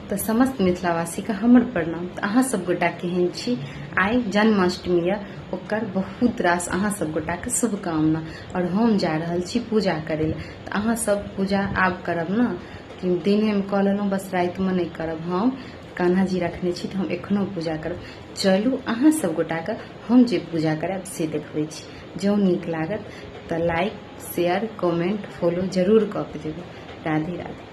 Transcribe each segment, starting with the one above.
तऽ समस्त मिथिलावासीके हमर प्रणाम तऽ अहाँ सब गोटा केहन छी आइ जन्माष्टमी यऽ ओकर बहुत रास अहाँ सब गोटाके शुभकामना आओर हम जा रहल छी पूजा करै लए तऽ अहाँ सब पूजा आब करब ने कि दिनेमे कऽ लेलहुँ बस रातिमे नहि करब हम कान्हा जी रखने छी तऽ हम एखनो पूजा करब चलू अहाँ सब गोटाके हम जे पूजा करब से देखबै छी जँ नीक लागत तऽ लाइक शेयर कमेंट फॉलो जरूर कऽ के देबै राधे राधे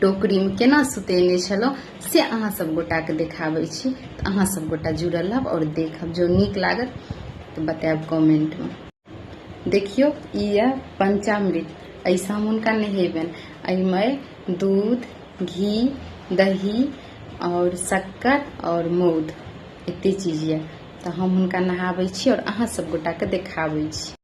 टोकरीमे केना सुतेने छलहुँ से अहाँ सब गोटाके देखाबै छी तऽ अहाँ सब गोटा जुड़ल रहब आओर देखब जो नीक लागत तऽ बतायब कमेंटमे देखियौ ई यऽ पंचामृत ऐसा हम हुनका नहेबनि एहिमे दूध घी दही आओर शक्कर आओर मौध एते चीज यऽ तऽ हम हुनका नहाबै छी आओर अहाँ सब गोटाके देखाबै छी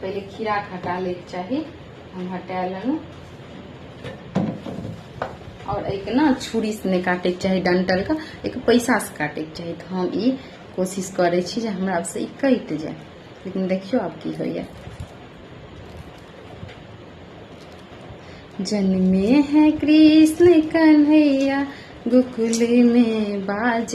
पहिले खीरा के हटा ले के चाही हम हटा लेलहुँ और एक ना छुरी से नहीं काटे के चाही डंटल का एक पैसा से काटे के चाही तो हम ई कोशिश करे छी जे हमरा से ई कट जाए लेकिन देखियो आब की होइए जन्मे है कृष्ण कन्हैया गोकुल में बाज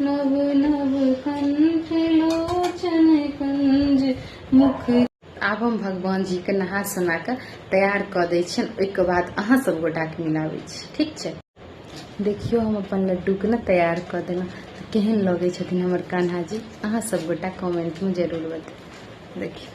नव नव कंठ लोचन कंज मुख आब हम भगवान जी के नहा सुना के तैयार क दे छियन ओहिके बाद अहाँ सब गोटा के मिलाबे छी ठीक छै देखियो हम अपन लड्डू के ने तैयार क देना केहन लगे छथिन हमर कान्हा जी अहाँ सब गोटा कमेंट में जरूर बताउ देखियो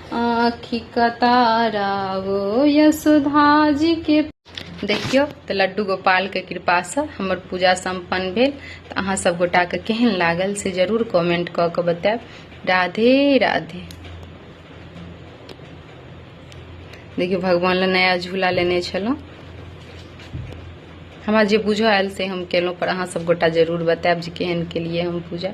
आँखि कतारा ओ यशोधाजीके देखियौ तऽ लड्डू गोपालके कृपासँ हमर पूजा सम्पन्न भेल तऽ अहाँ सब गोटाके केहन लागल से जरूर कमेंट कऽ कऽ बतायब राधे राधे देखियौ भगवान लए नया झूला लेने छलहुँ हमरा जे बुझऽ आयल से हम केलहुँ पर अहाँ सब गोटा जरूर बतायब जे केहन केलियै हम पूजा